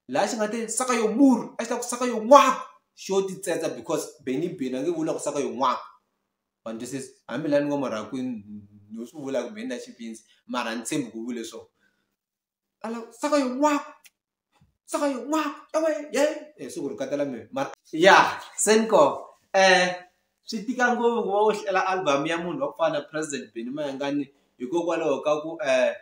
laha xi nga te saka yo muru a xi ta ku saka yo n'waku xo ti tsendza because beni beni a nge vula ku saka yo n'waku ma ni twisisa hambi laha ni ngo marhakwini no swi vula ku beni na xipinzi mara ni tshembi ku vule swona ala saka yo n'waku saka yo n'waku ewe ye e siku ri katela mina mara ya se ni ko um swi tika ngopfu ku va u hlela album ya munhu wa ku fana na president beni mayengani hikokwalaho ka ku um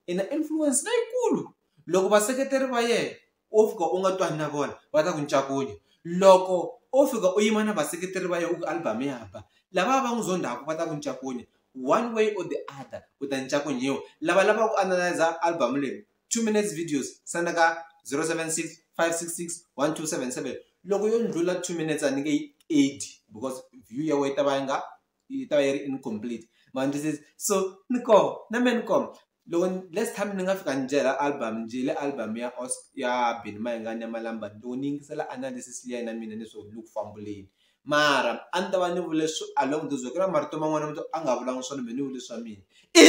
i na influence leyikulu loko vaseketeri va yena wo fika u nga twani na vona va ta ku ncakunya loko o fika u yima na vaseketeri va yena u ku album ya ba lava va n'wi zondhaku va ta ku ncakunya one way or the other u ta ncakunyiwa lava lava ku analyza album leyi two minutes videos senda ka zero seven six five six six one two seven seven loko yo ndlula two minutes a ni nge yi eighty because view ya wena yi ta va yi nga yi ta va yi ri incomplete ma ni twisisa so ni koho na me ni koho loko last time ni nga fika ni byela album njhe le album ya os ya Benny Mayengani ya Malamba loko ni yingisela analysis liya ya na mina ni swo ni le ku fambuleni mara a ni ta va ni vule swi along those way ku na marito man'wana ma to a nga vulanga swona me ni vule swa mina i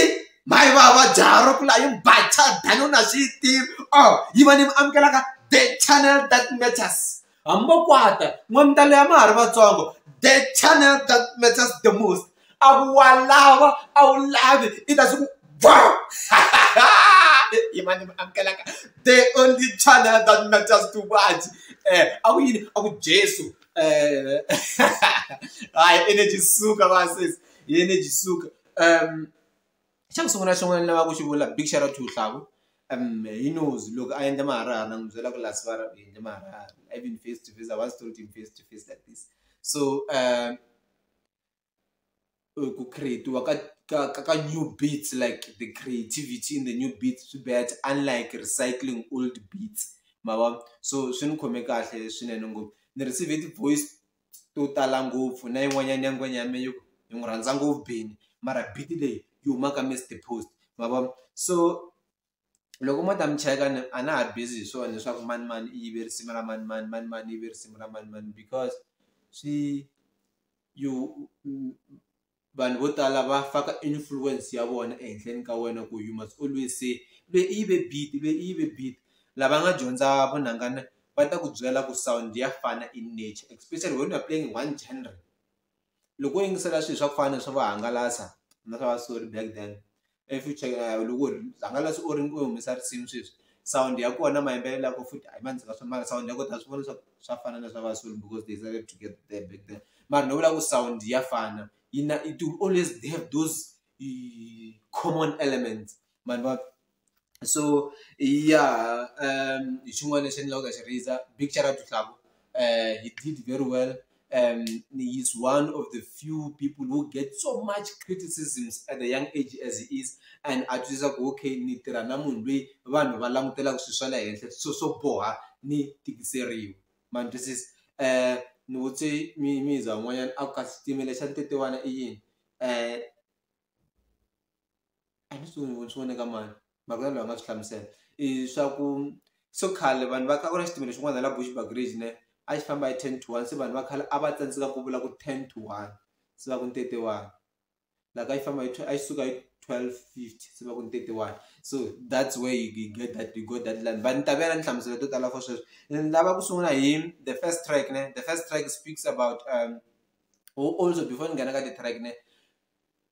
mhayi va va jaro ku la yi bacha dani u na swi yi tivi or yi va ni mi amukelaka the channel that matters hambokwata n'wamtalo ya ma ha ri vatsongo the channel that matters the most a ku wa lava a wu lavi i ta swi ku va yimani mi amukelaka the only channel that matters to much um a ku yini a ku jesu um hayi energy suka vasesi hi energy suka um xa ku sungula xin'wana lava ku xi vula big xero to hlavu hi knows loko a endla maharihari na n'wi byela ku last vara u endle maharihari even face to face I was told him face to face like this so ku create-iwa ka ka ka ka new beats like the creativity in the new beats swi better unlike recycling old beats ma vo so swi ni khome kahle swinene ngopfu ni receive-e ti-voice. to tala ngopfu na yin'wanyana ya ngwenya ya me yi yi n'wi rhandza ngopfu bini mara beat leyi yi huma ka Mister Post ma vona so loko mo ta mi cheka ni a na ha busy hi swona leswaku mani mani i yive risimu ra mani mani mani mani i yive risimu ra mani mani because swi you vanhu vo tala va faka influence ya vona ehenhleni ka wena ku you must always say le i yive beat le i yive beat lava nga dyondza vunhangana va ta ku byela ku sound ya fana in nature especially when you're playing one genre loko wo yingisela swilo swa ku fana na swa vahangalasa na swa va sorry back then if you check na loko u ri hangalasa u ri u humesa risimu sweswi sound ya kona mayimbelela ya ko futhi a yi ma ndzi nga swi mara sound ya ko ta swi vona swa ku swa fana na swa va soul because they started to get there back then mara ni vula ku sound ya fana yi na it will always they have those common elements mani va so ya um hi xin'wana lexi ni lavaka xi raiser big shout out to Hlavu um he did very well um, he's one of the few people who get so much criticisms at the young age as he is and a twisisa ku okay ni tirha na munhu loyi vanhu va langutelaka swilo swa le henhla so swo boha ni tikiseriwa ma ni twisisa um ni vutse mizwa n'wanyana a ku kasi xitimela xa ntetewana i yini um ni swi voni ni swi vone ka mani makwerhu loyi a nga swi hlamusela i swa ku so khale vanhu va kha ku na xitimela xin'wana la Bushbuckridge ne a xi famba hi ten to one se vanhu va khale a va tsandzeka ku vula ku ten to one se va ku ni thirty one la ka yi famba hi a yi suka hi twelve fifty se va ku ni thirty one so that's where you get that you got that line but ni ta vela ni hlamusela to tala for sweswo ni lava ku sungula hi the first track ne the first track speaks about um also before ni nghena ka ti-track ne.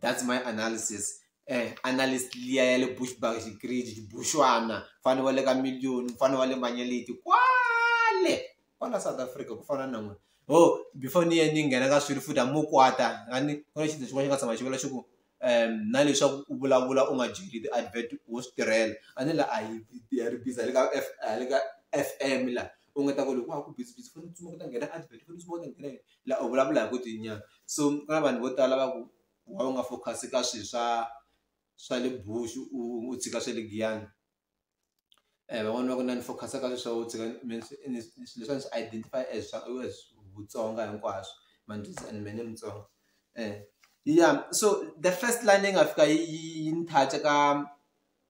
that's my analysis eh analyst liya ya le bushback xigridi xibuxwana mfana wa le ka million mfana wa le manyeliti kwale kwala south africa ku fana na n'wina ho oh, before ni ye ni nghena ka swilo futhi amukwata ani ku na xinto xin'wana xi nga tshama xi vula xi ku um na leswaku u vulavula u nga byeli ti-advert wo swi tirhela a ni la a yi ya ri biza le ka f le ka f m la u nga ta ku loko wa ha ku busy busy foni tsumaka ta nghena advert foni tsumaka ta nghena la u vulavula hi ku ti nyana so ku na vanhu vo tala va ku wa u nga focus ka swi swa swa le bushu u tshika swa le giyani um van'wani va ku na ni focus ka swi swa u tshika leswiwani swi identify as swa Vutsonga hinkwaswo mani today and me ni Mutsonga ya so the first line leyi nga fika yi yi ni touch-a ka.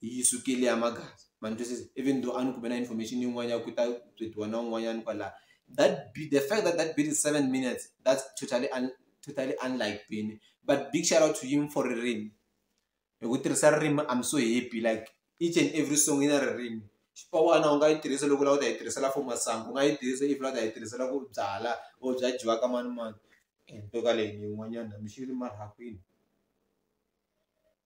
yi sukile ya magasi ma ni twisisa even though a ni kume na information yin'wana ya ku ta byetiwa na un'wanyana kwalaya that be the fact that that beat is seven minutes that's totally un, totally unlike bini but big shout out to him for ririmi hi ku tirhisa ririmi i'm so happy like each and every song yi na ririmi xipawana u nga yi tirhisa loko lava u ta yi tirhisela for masangu u nga yi tirhisa if lava u ta yi tirhisela ku byala or bya dyiwa ka mani mani ntoka leyi yin'wanyana mixili marhakwini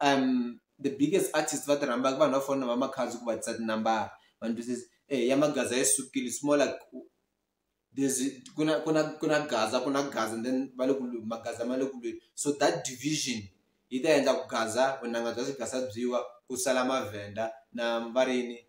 um the biggest artist va ti rhambaka vanhu va fona va makhadzi ku va tisa tinambara vanhu ti says eh ya magaza yi sukile it's more like there's ku na ku na ku na gaza ku na gaza and then va le ku lweni magaza ma le ku lweni so that division yi ta endla ku gaza vunanga bya swigaza byiwa ku sala mavhenda na varini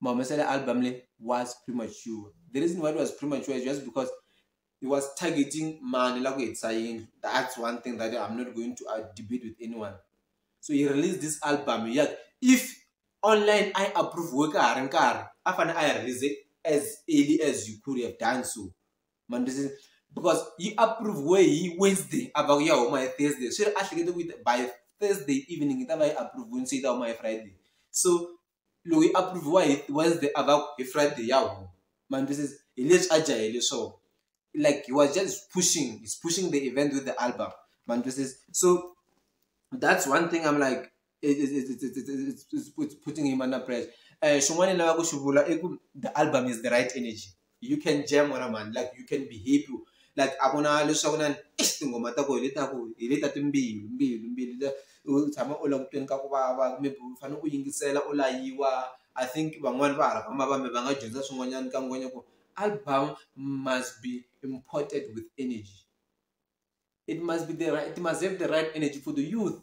mahumeselo ya album leyi was premature the reason why it was premature is just because he was targeting mani la ku hetisa yindlu that's one thing that i'm not going to uh, debate with anyone so he released this album ya if online i approve we ka ha ri nkarhi a fane a yi release as early as you could have done so mandisi because yi approve we hi wednesday a va ku ya huma hi thursday swi ri a hlekete ku by thursday evening yi ta va yi approve wini se yi ta huma hi friday so loyi a approve-iwa hi Wednesday a va ku hi Friday ya huma ma ni twisisa hi leswi a jahele swona like he was just pushing he's pushing the event with the album ma ni twisisa so that's one thing I'm like it's putting him under pressure xin'wana ni lavaka ku xi vula i ku the album is the right energy. you can jam wena mhani like you can be happy like a ku na leswaku na eish tinghoma ta ku hi leta ku hi leta timbilu mbilu mbilu u tshama u langutweni ka ku vava maybe u fanele u yingisela u layiwa i think van'wani va hala ka mavambe va nga dyondza swin'wanyana ka ngwenya ku album must be imported with energy it must be the right, it must have the right energy for the youth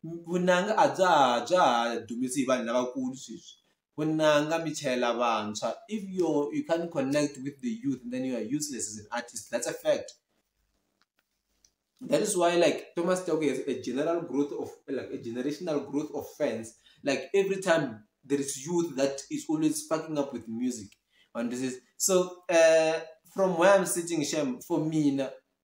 vunanga a bya ha bya ha dumisi hi vanhu lavakulu sweswi vunanga mi chayela vantshwa if you you can't connect with the youth then you are useless as an artist that's a fact that is why like thomas toko has a general growth of like a generational growth of fans like every time there is youth that is always sparking up with music and this is so uh, from where i'm sitting shem for mina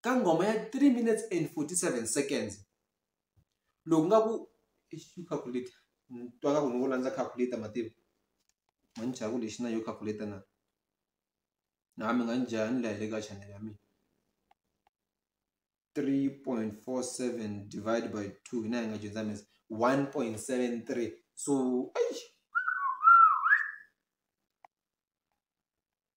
ka nghoma ya 3 minutes and 47 seconds loku nga ku calculator twa ka ku ni ku landza calculator mativo ma ni chava ku lexi na yo calculator na na mi nga ni jaya ni lahele ka chanel ya mina 3.47 divided by 2 hina hi nga dyondza mesa 1.73 so eish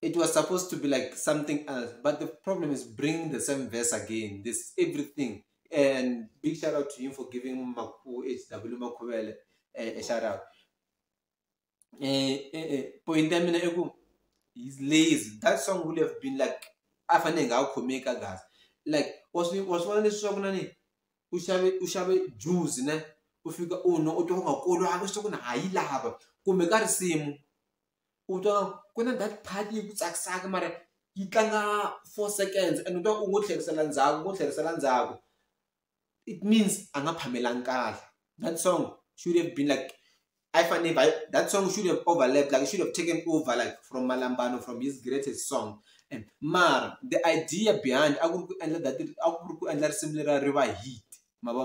it was supposed to be like something else. But the problem is bringing the same verse again. This everything. And big shout out to him for giving Maku HW Makuele a, a shout out. Uh, eh, uh, eh, uh, eh, point them in a He's lazy. That song would have been like afanenge akukhomeka kahle like wasvona leswi swa ku na ni u xave u xave juzi ne u fika u nwa u twa ku nga kolwangi swa ku ni ha yi lava kumbe ka risimu u twa ku na that part yi ku tsakisaka mara yi tlanga four seconds and u twa u ngo tlherisela ndzhaku u ngo tlherisela ndzhaku it means a nga phamelanga kahle that song should have been like a yi fanele yi that song should have overlapped like it should have taken over like from Malambano from his greatest song and mara the idea behind a ku ri ku endla that a ku ri ku endla risimu leriya ri va hit ma vo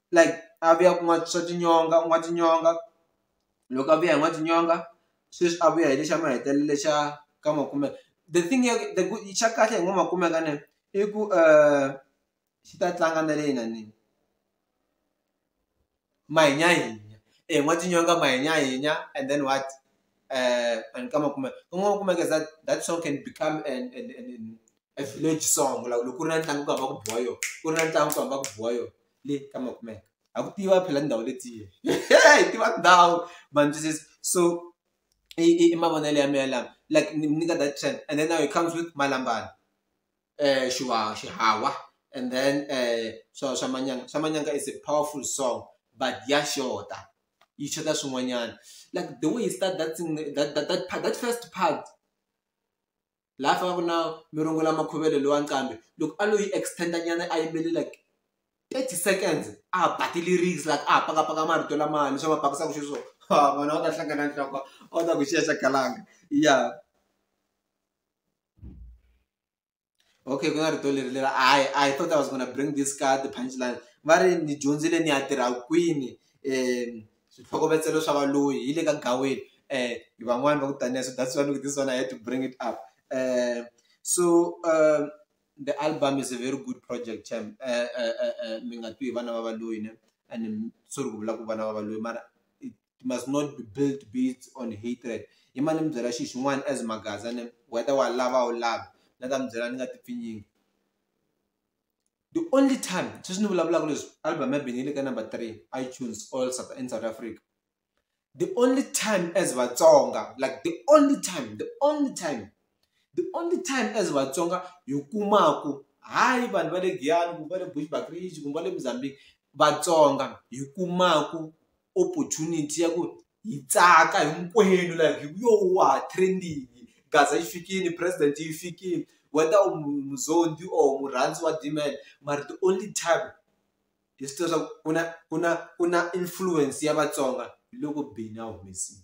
like a vuya ku n'wa swa tinyonga u n'wa tinyonga loko a vuya hi n'wa tinyonga sweswi a vuya hi lexa mahetelelo lexa ka makume the thing ya the ku xa kahle hi ngo makume ka ne i ku xi ta tlanga na le inanini manyanyinya e n'wa tinyonga manyanyinya and then what. uh, and kama kuma kun'wana kumeka that that song can become an, an, an, an a village song like loko ku ri na ntlangu ku hamba ku biwa yo ku ri na ntlangu ku hamba ku biwa yo le kama kumeka a ku tiva phela ndhawu letiye hi tiva ndhawu manjisisi so i mavonelo ya mina lama like ni nyika that trend and then now it comes with malambana um xiwa xihawa and then um swa swa manyanga swa manyanga is a powerful song but ya xota yi xota swin'wanyana like the way he start that thing that that that part that first part laha fana ku na mirongo lama khuvelo lowa nqambi loko a lo yi extend nyana a yimbele like thirty seconds a ba ti-lyrics like a pakapaka marito lamaya leswi a ma pakisaka xiswona ha vona va ta hlangana nhloko a wu ta ku xiya xa galanga ya. okay ku na rito leri leri i i thought i was gonna bring this card the punch line va ri ni dyondzile ni ya tirha kwini um switlhokovetselo swa valoyi hi le ka gaweni um van'wani va ku taniya so that's why look this one i had to bring it up um so um the album is a very good project tem um mi nga twi hi vana va valoyi ne and sorry ku vula ku vana va valoyi mara it must not be built based on hatred i mane mi byela xi xin'wana as maghaza ne whether wa lava u lava na ta mi byela ni nga ti pfinyingi the only time sweswi ni vulavulaka leswi album ya bini yi le ka number three itunes all south in south africa the only time as vatsonga like the only time the only time the only time as vatsonga hi kumaku hayi vanhu va le giyani kumbe va le bushbakridge kumbe va le mozambique vatsonga hi kumaku opportunity ya ku hi tsaka hinkwenu like hi yo wa ha trendini gaza yi fikini president yi fikini whether u muzondi or murhandzi wa demand mara the only time hi swi tiva swa ku ku na ku na ku na influence ya vatsonga hi loko beni a humesile.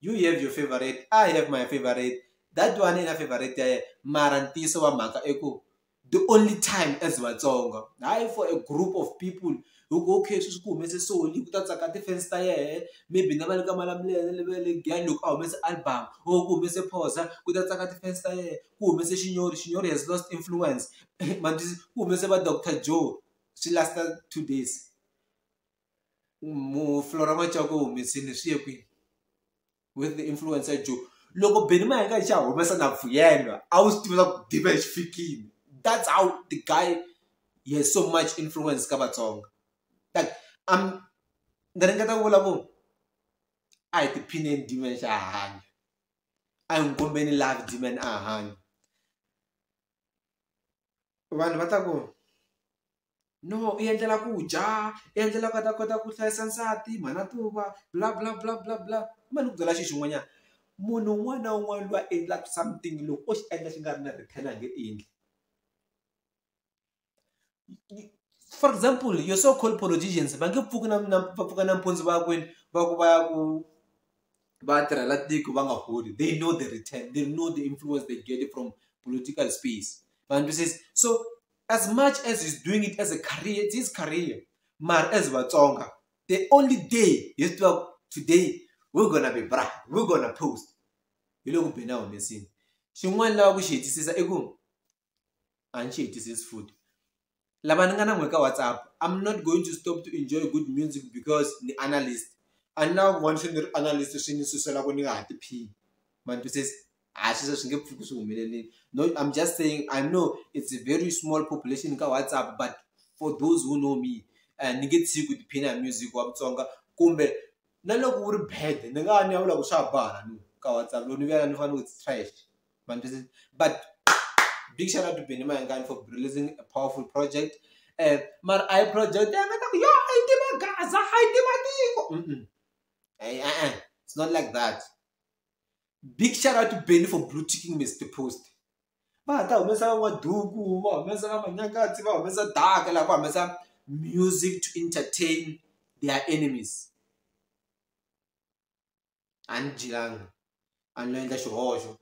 you have your favorite i have my favorite that one i na favorite ya yena mara ntiyiso wa mhaka i ku the only time as vatsonga hayi for a group of people hi ku okay sweswi ku humese soli ku ta tsaka ti-fans ta yehe maybe na va le ka malamulele le va le giyani loko a humese album or ku humese phoza ku ta tsaka ti-fans ta yehe ku humese xinyori xinyori has lost influence ma ku humese va doctor joe swi last-a two days. mu fulora n'watswaka u humesini swi ye kwini with the influence ya joe loko beni ma hi nga xa humesa na vuyelwa a wu swi tiva swa ku dibe xi fikile that's how the guy he has so much influence ka vatsonga like am ni ringeta ku vula ku a hi tiphineni diman xa hanya a hi n'wi kombeni love diman a hanya vanhu va ta ku no u endlela ku dya u endlela ku a ta kota ku hlayisa nsati mhana tuva bla bla bla bla bla kumbe ni ku byela xi xin'wanyana munhu un'wana na un'wana loyi a endlaka something loko o xi endla xi nga ri na return a nge endli for example your so called politicians va nge pfuki na na va pfuka nampundzu va kwini va ku va ya ku. vatirhela tiko va nga holi they know the return they know the influence they get from political space vandwisisi so as much as he's doing it as a career it's his career mara as vatsonga the only day hi swi tivaku today we're gonna be bra we're gonna post hi le ku beni a humesini xin'wana lava ku xi hetisisa i ku a ni xi hetisisi futhi lava ni nga na n'we ka WhatsApp I'm not going to stop to enjoy good music because ni analyst a ni lava ku vona se ni ri analyst swi ni susela ku ni nga ha tiphini ma ni twisisa a swi se swi nge pfuki swi humelelile no I'm just saying I know it's a very small population ka WhatsApp but for those who know me ni nge tshiki ku tiphina hi music wa Mutsonga kumbe na loko wu ri bad ni nga va ni ya vula ku swa ha boha ka WhatsApp loko ni vuya la ni fanele ni ku it's trash. man this is but big shout out to Benny Mayengani for releasing a powerful project eh mara a hi project ya mina yo a yi tiva gaza a yi tiva tiko eh eh it's not like that big shout out to Benny for blue ticking Mr Post va ha ta humesa van'waduku va humesa va manyakatsi va humesa daka laha va humesa music to entertain their enemies a ni dyelanga a no endla xihoxo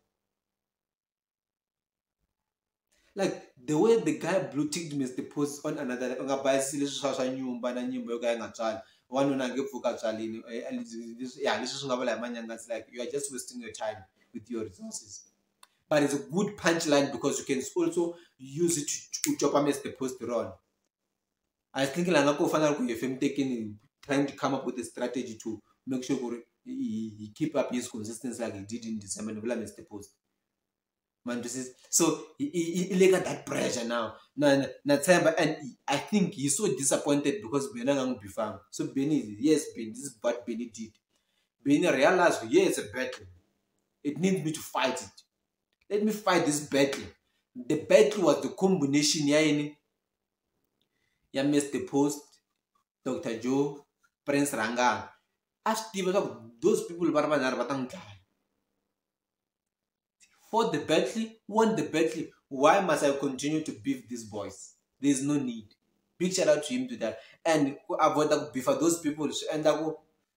like the way the guy blue ticked me as the post on another u nga bayisisi leswi swa swa nyumba na nyimba yo ka yi nga tswali wanuna nge pfuka tswalini ya leswi swi nga vula hi manyangasi like you are just wasting your time with your resources but it's a good punch line because you can also use it to copa as the post rona a hi thinking lana ko fana na loko hi hefe mutekeni trying to come up with a strategy to make sure ku ri hi keep up his consistency like he did in december ni vula mr post mandisisa so i le ka that pressure now na na tshemba and i think he so disappointed because beni a nga n'wi bifanga so beni yes beni this is what beni did beni realize yeah it's a battle it needs me to fight it let me fight this battle the battle was the combination ya yini ya Mister Post, Doctor Joe, Prince Rhangani a swi tiva swa ku those people va ri vanharhu va ta n'wi dlaya for the battle won the battle why must I continue to beef these boys there is no need big shout out to him to that and ku avoid ku beefa those people swi endla ku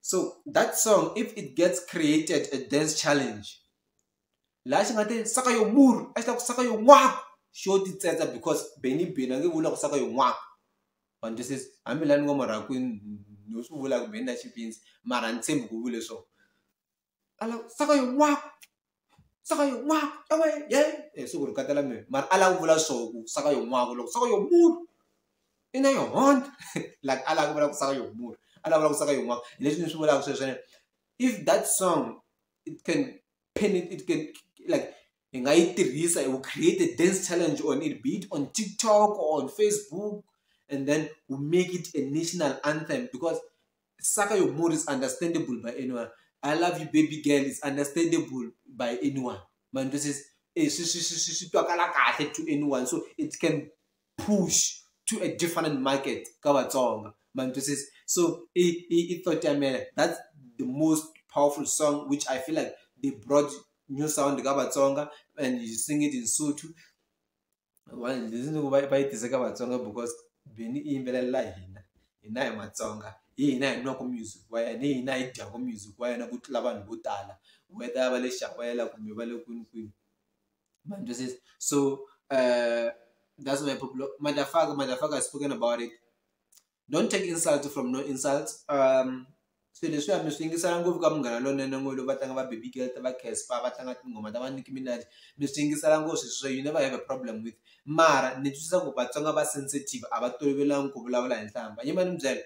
so that song if it gets created a dance challenge laha xi nga te saka yo muru a xi ta ku saka yo n'wa xo titsetse because beni beni a nge vula ku saka yo n'wa vanhu to says hambi lani n'wa marakwini no swi vula ku beni na xipinsi mara ni tshembi ku vule swona ala saka yo n'wako saka yo n'wako ewe ye e siku ri katela mina mara a lava ku vula swo ku saka yo n'wako loko saka yo mulu i na yo honda like a lava ku vula ku saka yo mulu a lava vula ku saka yo n'wako hi leswi ni swi vulaka sweswene if that song it can pin it, it can like hi nga yi tirhisa hi ku create a dance challenge on it be it on TikTok or on Facebook and then we make it a national anthem because Saka Your Mood is understandable by anyone I love you baby girl is understandable by anyone ma ni twisisa e swi swi swi swi swi twakala kahle to anyone so it can push to a different market ka vatsonga mantwisisa so i i i thought ya mina that's the most powerful song which i feel like they brought new sound ka vatsonga and you sing it in sotho va yi tise ka vatsonga because beni i yimbelelela hina hina hi matsonga hi hina hi nwaka music wa yena hi hina hi dyaka music wa yena ku tlula vanhu vo tala whether va le xakwela kumbe va le kwini kwini But this is so uh, that's my popular motherfucker, motherfucker has spoken about it. Don't take insult from no insult. Um so leswi a mi swi yingisela ngopfu ka munghana lonene n'we lowu va tlanga va baby girl ta va caspa va tlanga tinghoma ta va niki minaj mi swi yingisela ngopfu sweswi swa you never have a problem with mara ni twisisa ku vatsonga va sensitive a va tolovelangi ku vulavula hi nhlamba yima ni mi byela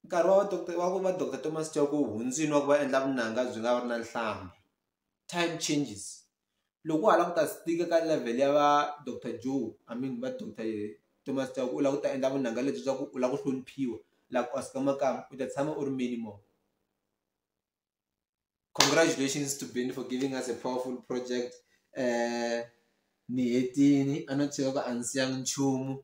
nkarhi wa doctor wa ku va doctor Thomas Chauke wu hundzini wa ku va endla vunanga byi nga ri na nhlambha time changes loko hala ku ta stika ka level ya va doctor Joe I mean va doctor Thomas Chauke u lava ku ta endla vunanga lebyi bya ku u lava ku hloniphiwa like Oscar Makamu u ta tshama u ri many more congratulations to Benny for giving us a powerful project ni hetini a no cheka ku a ndzi siyanga nchumu .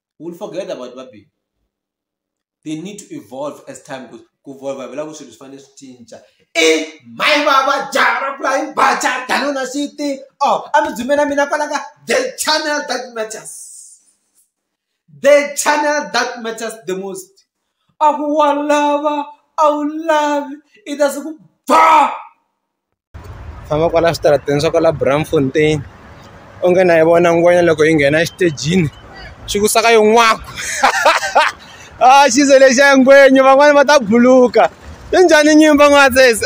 u will forget about va bini they need to evolve as time goes ku volva vela ku swilo swi fanele swi cinca i my baba jara flying bacha danona city oh a mi dzumela mina kwala ka the channel that matters the channel that matters the most a ku wa lava a wu lavi i ta se ku ba famba kwala switarateni swa kwala Braamfontein u nge na yi vona ngwenya loko yi nghena exitejini xi ku saka yo n'waku a xi ze lexiya ngwenya van'wani va ta buluka yi njhani nyimba n'wana sesi .